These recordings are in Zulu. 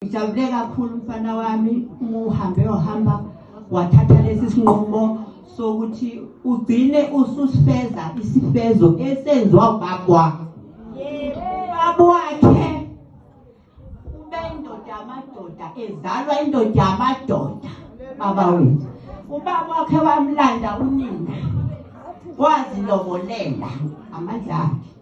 Ngijabule kakhulu mfana wami uhambe ohamba wathatha lesi sinqumo sokuthi ugcine ususifeza isifezo esenziwa ubabwa ubaba wakhe ube indoda yamadoda ezalwa indoda yamadoda baba wethu ubaba wakhe wamlanda unina wazilobolela amandla akhe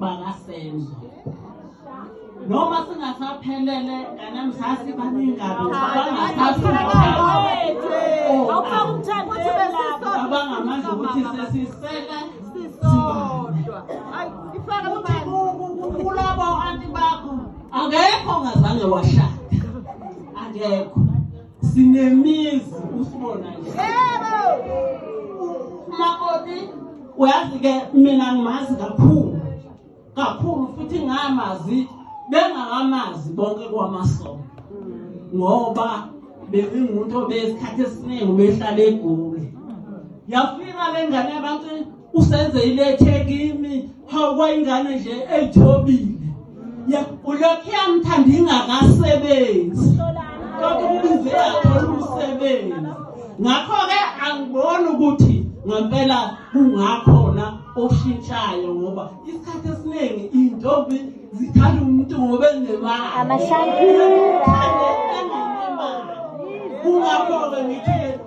bakasenzo noma singasaphelele kanamsasi baningabi abangamandla ukuthi sesisele sisodwa ukuthi kulabo anti bakho akekho ongazange washada akekho sinemizi usibona yebo makoti uyazi ke mina ngimazi kakhulu kakhulu futhi ngamazi bengakamazi bonke kwamasonto ngoba bekungumuntu obesikhathi esiningi ubehlala egoli yafika le ngane yabantu usenze ilethe kimi hawu kwayingane nje eyithobile ya ulokhu yamthanda ingakasebenzi kodwa ubize yathola umsebenzi ngakho-ke angiboni ukuthi ngempela kungakhona oshintshayo ngoba isikhathi esiningi iy'ntombi zithanda umuntu ngoba enemali kungakho-ke ngithi